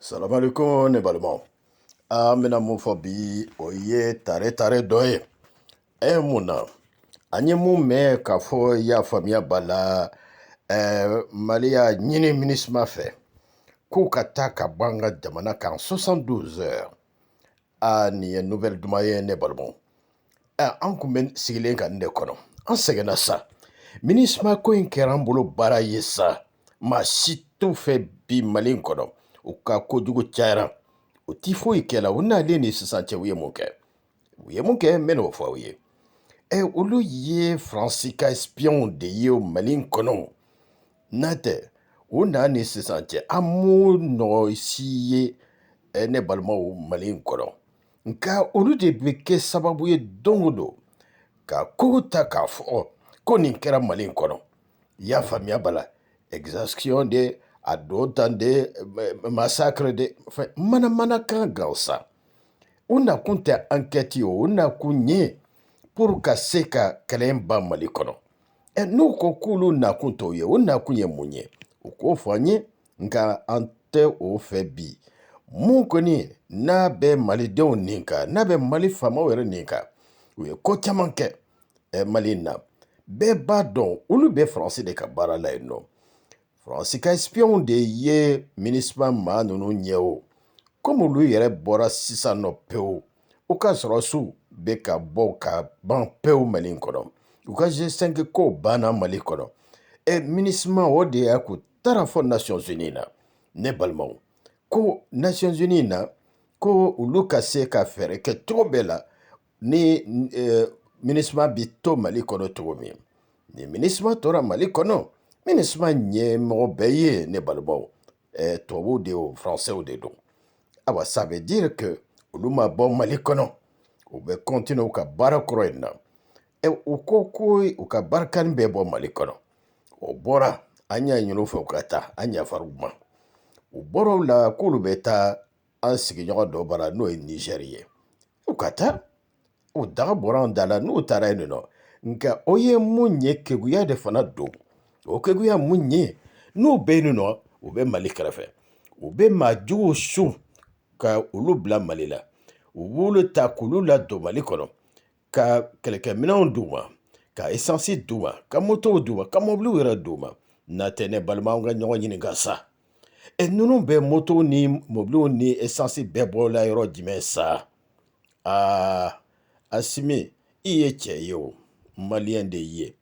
Salamu alekum ne balimaw an bɛna mun fɔ bi o ye tare tare dɔ ye e mun na an ye mun mɛn k'a fɔ i y'a faamuya b'a la ɛɛ mali y'a ɲini minisuma fɛ k'u ka taa ka bɔ an ka jamana kan 72 heures aa nin ye nouvelle duman ye ne balimaw aa an kun bɛ sigilen ka nin de kɔnɔ an sɛgɛnna sa minisma ko in kɛra an bolo baara ye sa maa si t'u fɛ bi mali in kɔnɔ u ka kojugu cayara u ti foyi kɛ la u nalen ni sisan cɛ u ye mun kɛ u ye mun kɛ n bɛ n'o fɔ aw ye ɛ olu ye faransi ka espiyɔnw de ye o mali in kɔnɔ N'a tɛ u na ni sisan cɛ an m'o nɔgɔ si ye eh, ne balimaw mali in kɔnɔ nka olu de bɛ kɛ sababu ye don o don ka kogo ta k'a fɔ ko nin kɛra mali in kɔnɔ i y'a faamuya b'a la exaction de attentat de eh, massacre de enfin, manamana kan gansan u nakun tɛ ankɛti ye u nakun ye pour ka se ka kɛlɛ in ban mali kɔnɔ ɛ n'u ko k'olu nakun t'o ye u nakun ye mun ye u k'o fɔ an ye nka an tɛ o fɛ bi mun kɔni n'a bɛ malidenw nin kan n'a bɛ mali faamaw yɛrɛ nin kan u ye ko caman kɛ ɛ mali in na bɛɛ b'a dɔn olu bɛ faransi de ka baara la yen nɔ Faransi ka espiyɔn de ye minisma maa ninnu ɲɛ o komi olu yɛrɛ bɔra sisan nɔ pewu u ka sɔrɔsiw bɛ ka bɔ ka ban pewu mali kɔnɔ u ka G5 ko banna mali kɔnɔ ɛ minisma o de y'a k'u taara fɔ nations unies na ne balimaw ko nations unies na ko olu ka se ka fɛɛrɛ kɛ cogo bɛɛ la ni eh, minisma bɛ to mali kɔnɔ cogo min ni minisma tora mali kɔnɔ minisma ɲɛmɔgɔ bɛɛ ye ne balimaw eh, tubabuw de o français de don awa ça veut dire que olu ma bɔ mali kɔnɔ u bɛ continuer u ka baara kɔrɔ in na e u ko ko u ka barikani bɛ bɔ mali kɔnɔ o bɔra an y'a ɲini u fɛ u ka taa an yafara u ma u bɔra o la k'olu bɛ taa an sigiɲɔgɔn dɔ bara n'o ye nizɛri ye u ka taa u daga bɔra an da la n'u taara yen nɔ nka o ye mun ye keguya de fana don o keguya mun ye n'u bɛ yen nɔ u bɛ mali kɛrɛfɛ u bɛ maa juguw su ka olu bila mali la u b'olu ta k'olu ladon mali kɔnɔ ka kɛlɛkɛminɛnw d'u ma ka esansi d'u ma ka motow d'u ma ka mɔbiliw yɛrɛ d'u ma n'a tɛ ne balima an ka ɲɔgɔn ɲininka sa e ninnu bɛ motow ni mɔbiliw ni esansi bɛɛ bɔla yɔrɔ jumɛn sa aa asimi i ye cɛ ye o maliyɛn de ye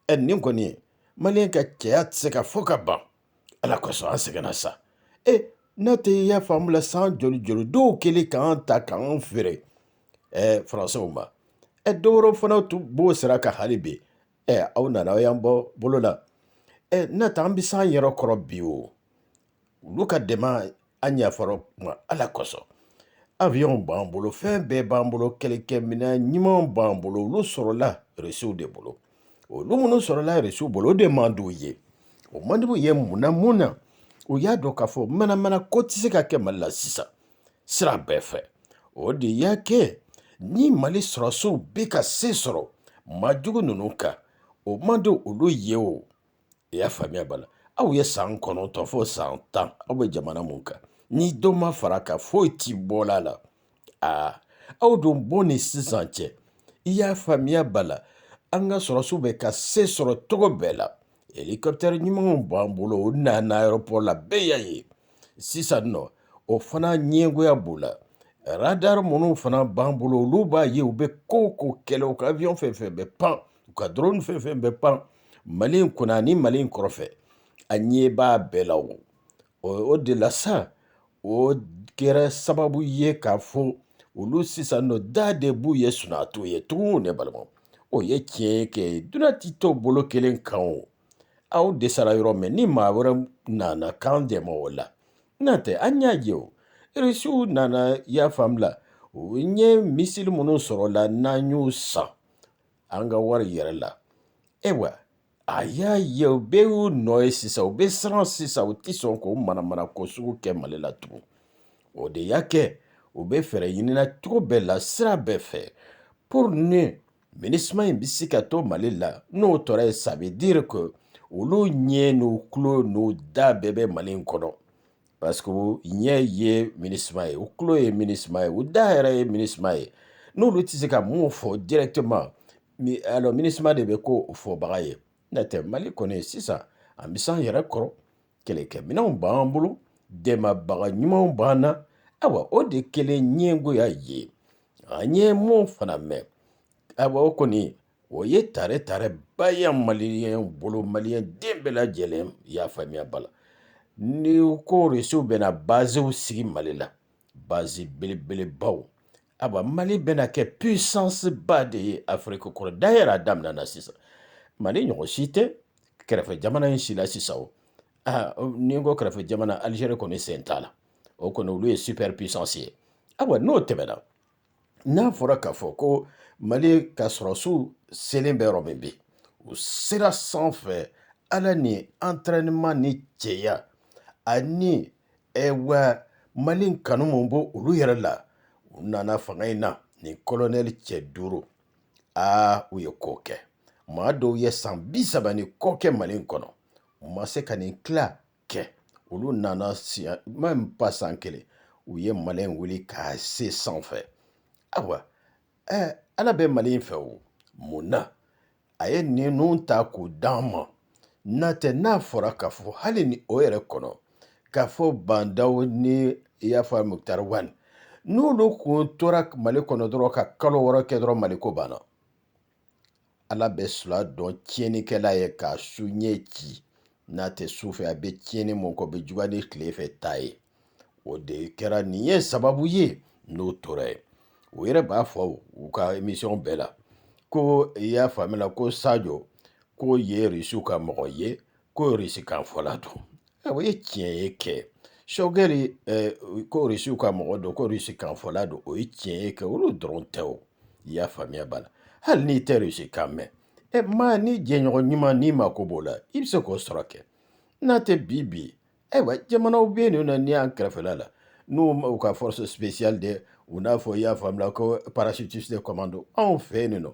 ɛ nin kɔni maliyɛn ka cɛya tɛ se ka fɔ ka ban Ala kosɔn an sɛgɛnna sa e n'a tɛ i y'a faamu la san joli joli dɔw kɛlen k'an ta k'an feere faransiw ma ɛ dɔ wɛrɛw fana tun b'o sira kan hali bi ɛ aw nana aw y'an bɔ bolo la ɛ n'a tɛ an bɛ s'an yɛrɛ kɔrɔ bi o olu ka dɛmɛ an yafar'u ma ala kosɔn avion b'an bolo fɛn bɛɛ b'an bolo kɛlɛkɛminɛ ɲumanw b'an bolo olu sɔrɔla risiw de bolo olu minnu sɔrɔla risiw bolo o de man d'u ye o man d'u ye mun na mun na u y'a dɔn k'a fɔ manamana ko tɛ se ka kɛ mali la sisan sira bɛɛ fɛ o de y'a kɛ ni mali sɔrɔsiw bɛ ka se sɔrɔ maajugu ninnu kan o man di olu ye o i y'a faamuya b'a la aw ye san kɔnɔntɔn fo san tan aw bɛ jamana mun kan ni dɔ ma fara kan foyi ti bɔl'a la aa aw dun bɔ ni sisan cɛ i y'a faamuya b'a la an ka sɔrɔsiw bɛ ka se sɔrɔ cogo bɛɛ la hélicoptère ɲumanw b'an bolo o nana aéroport la bɛɛ y'a ye sisan nɔ o fana ɲɛngoya b'u la radar minnu fana b'an bolo olu b'a ye u bɛ ko o ko kɛla u ka avion fɛn fɛn bɛ pan u ka drone fɛn fɛn bɛ pan mali in kunna ni mali in kɔrɔfɛ a ɲɛ b'a bɛɛ la o o de la sa o kɛra sababu ye k'a fɔ olu sisan nɔ da de b'u ye sunaa t'u ye tugun ne balima o ye tiɲɛ kɛ duniya tɛ to bolo kelen kan o aw dɛsɛra yɔrɔ min ni maa wɛrɛ nana k'an dɛmɛ o la n'o tɛ an y'a ye o irisiw nana i y'a faamu la u ye missile minnu sɔrɔla n'an y'u san an ka wari yɛrɛ la ayiwa a y'a ye u bɛɛ y'u nɔ ye sisan u bɛ siran sisan u tɛ sɔn k'o manamana ko sugu kɛ mali la tugun o de y'a kɛ u bɛ fɛɛrɛ ɲinina cogo bɛɛ la sira bɛɛ fɛ pour ni MINUSMA in bɛ se ka to mali la n'o tora yen ça veut dire que olu ɲɛ n'u tulo n'u da bɛɛ bɛ mali in kɔnɔ Parce que ɲɛ ye MINUSMA ye u tulo ye MINUSMA ye u da yɛrɛ ye MINUSMA ye n'olu tɛ se ka mun fɔ directement alors MINUSMA de bɛ k'o fɔbaga ye n'o tɛ Mali kɔni sisan an bɛ s'an yɛrɛ kɔrɔ kɛlɛkɛminɛnw b'an bolo dɛmɛbaga ɲumanw b'an na awa o de kɛlen ɲɛngoya ye an ye mun fana mɛn awa o kɔni O ye tare tare ba ye maliyɛn bolo maliyɛn den bɛɛ lajɛlen y'a faamuya ba la ni ko risi bɛna bazw sigi mali la baz belebelebaw a mali bɛna kɛ puissance ba de ye afiriki kɔnɔ d'ailleurs a daminɛna sisan mali ɲɔgɔn si tɛ kɛrɛfɛ jamana in si la sisan o aa ni n ko kɛrɛfɛ jamana alizeri kɔni sen t'a la o kɔni olu ye super puissance ye awa n'o tɛmɛna N'a fɔra k'a fɔ ko mali ka sɔrɔsiw selen bɛ yɔrɔ min bi u sera sanfɛ ala ni entraînement ni cɛya ani wa mali kanu min b'olu yɛrɛ la u nana fanga in na ni kolonɛli cɛ duuru aa u ye ko kɛ maa dɔw ye san bi saba ni kɔ kɛ mali kɔnɔ u ma se ka nin tila kɛ olu nana sa même pas san kelen u ye mali wuli k'a se sanfɛ ayiwa ɛɛ ala bɛ mali fɛ o mun na a ye ninnu ta k'u d'an ma n'a tɛ n'a fɔra k'a fɔ hali ni o yɛrɛ kɔnɔ k'a fɔ ba ndaw ni i y'a fɔ mukutari wani n'olu kun tora mali kɔnɔ dɔrɔn ka kalo wɔɔrɔ kɛ dɔrɔn mali ko banna ala bɛ sula dɔn tiɲɛnikɛla ye k'a su ɲɛ ci n'a tɛ su fɛ a bɛ tiɲɛni min k'o bɛ juguya ni tile fɛ ta ye o de kɛra nin ye sababu ye n'o tora ye u yɛrɛ b'a fɔ u ka emisiyɔn bɛɛ la ko i y'a faamuya la ko sajɔ k'o ye risiw ka mɔgɔ ye ko risi kan fɔla don o ye tiɲɛ ye kɛ shogɛli ko risiw ka mɔgɔ don ko risi kan fɔla don o ye tiɲɛ ye kɛ olu dɔrɔn tɛ o i y'a faamuya b'a la hali n'i tɛ risi kan mɛn ɛ maa ni jɛɲɔgɔn ɲuman n'i mako b'o la i bɛ se k'o sɔrɔ kɛ n'a tɛ bi bi ayiwa jamanaw bɛ yen nɔ na n'i y'an kɛrɛfɛla la n'u ma u ka force spéciale de u n'a fɔ i y'a faamuya ko parachutiste commando anw fɛ yen nɔ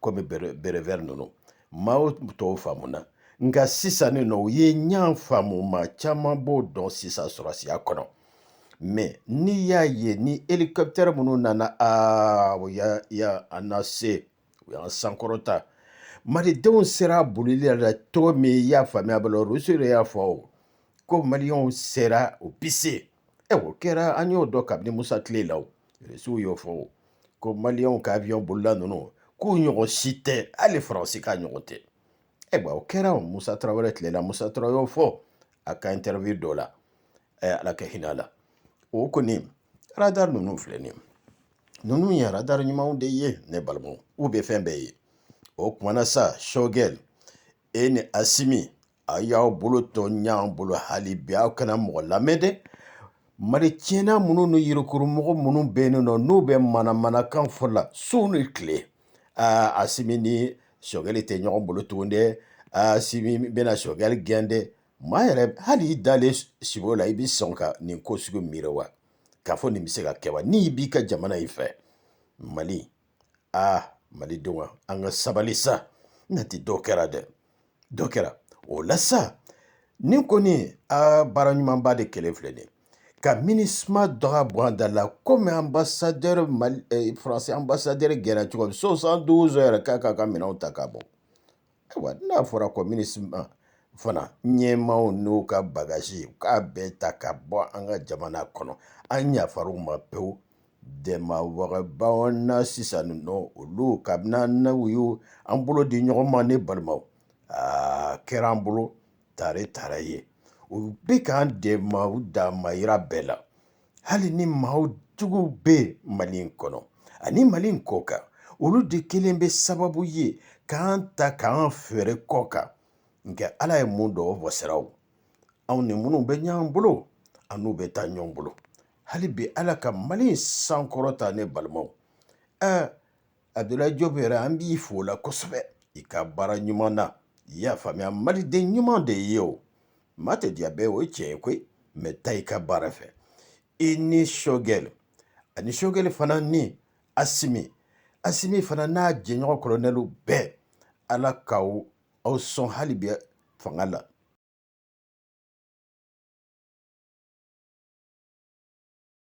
komi béret vert ninnu maaw t'o faamuna nka sisan nin nɔ u ye ɲan faamu maa caman b'o dɔn sisan sɔrɔsiya kɔnɔ mɛ n'i y'a ye ni helikɔpitɛri minnu nana aa u y'a y'an nase u y'an sankɔrɔta malidenw sera a bolili la cogo min i y'a faamuya ba la rusi de y'a fɔ o ko maliyɛnw sera u bi se ɛ o kɛra an y'o dɔn kabini musa tile la o rusiw y'o fɔ o ko maliyɛnw ka avion bolila ninnu k'u ɲɔgɔn si tɛ hali faransi ka ɲɔgɔn tɛ ayiwa o kɛra musa tarawele tile la musa tarawele y'o fɔ a ka interview dɔ la ala ka hinɛ a la o kɔni radar ninnu filɛ nin ye ninnu ye radar ɲumanw de ye ne balimaw u bɛ fɛn bɛɛ ye o kumana sa shogɛl e ni asimi a y'aw bolo to ɲɔgɔn bolo hali bi aw kana mɔgɔ lamɛn dɛ mali tiɲɛna minnu ni yirukurumɔgɔ minnu bɛ yen nɔ n'u bɛ manamanakan fɔ la su ni tile aa asimi ni sogɛli tɛ ɲɔgɔn bolo tugun dɛ asimi bɛna sogɛli gɛn dɛ maa yɛrɛ hali i dalen sibo la i bɛ sɔn ka nin ko sugu miiri wa k'a fɔ nin bɛ se ka kɛ wa n'i b'i ka jamana in fɛ mali aa malidenw an ka sabali sa nati dɔ kɛra dɛ dɔ kɛra o la sa nin kɔni a baara ɲumanba de kɛlen filɛ nin ka minisuma dɔgɔ bɔ an da la kɔmi ambassadeur faransi ambassadeur gɛnna cogo soixante-douze heures k'a k'a ka minɛnw ta ka bɔ Ayiwa n'a fɔra ko minisuma fana ɲɛmaaw n'u ka bagasi u k'a bɛɛ ta ka bɔ an ka jamana kɔnɔ an yafar'u ma pewu dɛmɛbagabaw na sisan nɔ olu kabini an n'u ye an bolo di ɲɔgɔn ma ne balimaw a kɛra an bolo tare tare ye u bɛ k'an dɛmɛ u damayira bɛɛ la hali ni maa juguw bɛ mali in kɔnɔ ani mali in kɔ kan olu de kelen bɛ sababu ye k'an ta k'an feere kɔ kan nka ala ye mun dɔ wasiraw anw ni minnu bɛ ɲɔgɔn bolo an n'u bɛ taa ɲɔgɔn bolo hali bi ala ka mali in sankɔrɔta ne balimaw ɛɛ Abdoulaye Diop yɛrɛ an b'i fo o la kosɛbɛ i ka baara ɲuman na i y'a faamuya maliden ɲuman de i ye o maa tɛ diya bɛɛ o ye tiɲɛ ye koyi mɛ taa i ka baara fɛ i ni sogɛli ani sogɛli fana ni asimi asimi fana n'a jɛɲɔgɔn kolonɛliw bɛɛ ala k'aw aw sɔn hali bi fanga la